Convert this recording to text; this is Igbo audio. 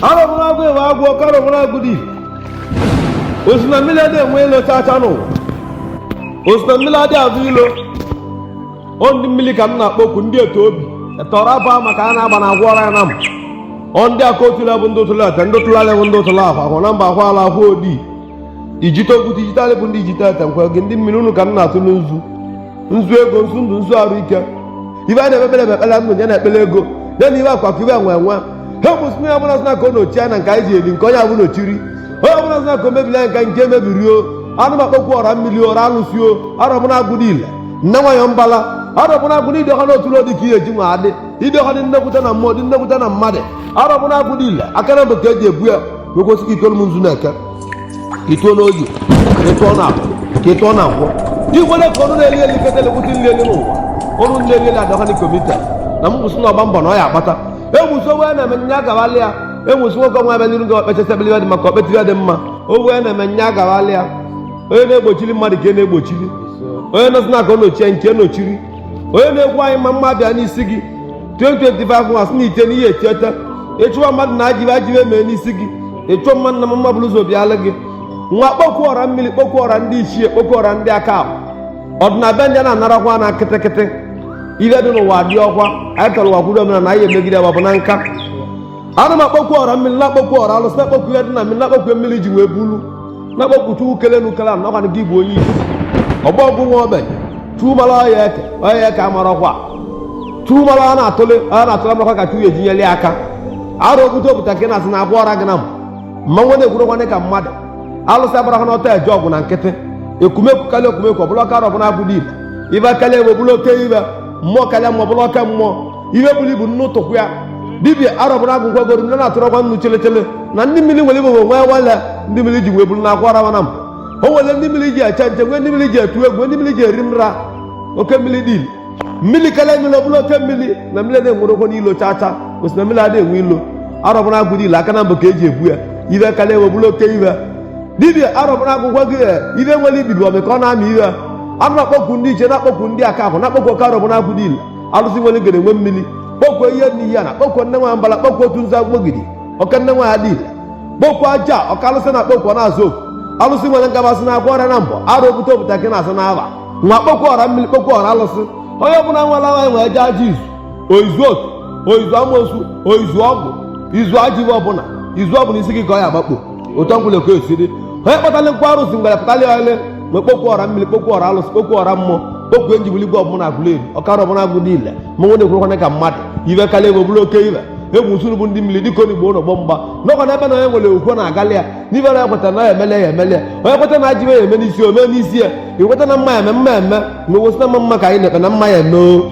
arọbụnagụ ewe agwụ ọka arọbụnagụ dị ọ sị na mmiri adị enwe ilo chacha na ọ sị na mmiri adị azụ ilo ọ ndị mmiri ka m na-akpọku ndị ete obi ete ọra afa maka a na-agba na agwọ ọra ya na m ọ ndị aka otule bụ ndị otule ete ndị otule alị bụ ndị otule ọhụ ahụ na mba ahụ ala ọhụ odii ijite ogute ijite alị bụ ndị ijite ete nkwa gị ndị mmiri unu ka m na-atụlụ nzu nzu ego nzu ndụ nzu arụ ike ihe anyị na-ekpebere ekpere ndụ nya na ekpere ego nya na ihe akụ akụ ihe enwe enwe ha mụ sị na onye ọbụla sị na ka ọ nochie anyị na nke anyị ji eli nke onye ahụ nochiri onye ọbụla sị na ka o mebiri anyị nke nke mebiri o anụ m akpọkwu ọra mmiri ọra alụsị o arọbụnagụ dị ile nne nwanyị mbala arọbụnagụ dị ile ọha n'otu ọ dị ka ihe ji nwa adị ịdị ọha dị nnekwute na mmụọ dị nnekwute na mmadụ arọbụnagụ dị ile aka nabọ ka eji ebu ya wee kwusi ka ị tụọlụ m nzu n'eke ka ị tụọ n'oye ka ị tụọ n'afọ ka ị tụọ na nkwọ i kwere ka ọnụ na-eli eli kete lekwute nri eli n'ụwa ọnụ nri eli adọka na komite na m kwusi na ọgba mbọ na ọ ya akpata e wee sị onye na-eme nya agawala ya e wee sị nwoke ọnwa ebe n'iru gị okpechasịbili ya dị maka okpetiri ya dị mma onye na-eme nya agawala ya onye na-egbochiri mmadụ ka e na-egbochiri onye nọ sị na ka ọ nochie nke nochiri onye na-ekwu anyị mma mma bịa n'isi gị nwa sị na ite n'ihe etieta ị chụwa mmadụ na ajọ ihe ajọ ihe mee n'isi gị ị chụọ mmadụ na mma mma bụrụ ụzọ bịalụ gị nwa kpọkwu ọra mmiri kpọkwu ọra ndị ichie kpọkwu ọra ndị aka ahụ ọdịna be ndị na-anarakwa na kịtịkịtị ihe dị n'ụwa dị ọkwa anyị tọrọ ụwa kwuru omenala anyị emegide ya bụ na nka ana m akpọkwu ọra mmiri na-akpọkwu ọra alụsị na-akpọkwu ihe dị na mmiri na-akpọkwu ihe mmiri ji wee bulu na-akpọkwu chukwu kele unu kele mụ na ọkwanụ gị bụ onye isi ọgbọ ọgụ nwa ogbenye chukwu mara ọ ya eke ọ ya eke amarọkwa chukwu mara ọ ya na-atụle ọ ya na-atụle amakwa ka chukwu ya-eji nyere ya aka arọ ogute obute ka ị na-aza na agwa ọra gị na mmanwụ na-ekwurọkwanụ ka mmadụ alụsị agbarọkwanụ ọtọ eje ọgụ na nkịtị ekumekwu karịa ekumekwu ọ bụlụ oke arọbụnagụ dị ihe ihe karịa ihe ọ bụlụ oke ihe mmụọ karịa mmụọ ọ bụlụ oke mmụọ ihe buru ibu nnu tụkwa ya dibia arọbụnagụ gwa goro ndị na-atụrọkwa nnu chelechele na ndị mmiri nwere igbo nwee nwale ndị mmiri ji wee buru na akwa rawana m o nwere ndị mmiri ji eche nche nwee ndị mmiri ji etu egwu nwee ndị mmiri ji eri nra oke mmiri dị ile mmiri karịa mmiri ọ bụlụ oke mmiri na mmiri na-enwerọkwanụ ilo chacha ọ sị na mmiri adị enwe ilo arọbụnagụ dị ile aka nabọ ka eji ebu ya ihe karịa ihe bụrụ oke ihe dibia arọbụnagụ gwa gị ihe nwere ibibi ọmị ka ọ na-amị ihe a na-akpọkwu ndị ichie na-akpọkwu ndị aka ahụ na-akpọkwu oke arọbụnagụ dị ile alụsị nwere ngene nwe mmiri kpọkwu iyi nne iyi nna kpọkwu nne nwa mbala kpọkwu otu nzu agbogidi oke nne nwanyị dị ile kpọkwu aja oke alụsị na-akpọkwu ọ na-aza oku alụsị nwere ngabasị na agwa ọrịa na mbọ arọ obute obute ka ị na-aza n'afa nwa kpọkwu ọra mmiri kpọkwu ọra alụsị onye ọbụla were aha anyị wee jee aja izu o izu otu o izu amosu o izu ọgwụ izu ajọ ihe ọbụla izu ọbụla isi gị ka ọ ya agbakpo otu ọbụla oke osi dị onye kpatara nkwa arụsị ngwere pụtara ya ole ma kpokwu ọra mmiri kpokwu ọra alụsị kpokwu ọra mmụọ kpokwu enjibuli gwa ọbụla agụla eri ọkara ọbụla agụ niile mmanwụ na-ekwurụkwana ka mmadụ ibe karịa ebe ọbụla oke ibe egwu usoro bụ ndị mmiri dịka onigbo ụlọgbọ mgba n'ọkwa n'ebe na onye nwere okwu na-agalị ya n'ibe na ekweta na ya emele ya emele ya onye kweta na ajọ ife ya eme n'isi ome n'isi ya ikweta na mma ya eme mma ya eme na owosi na mma mma ka anyị na-ekpe na mma ya eme o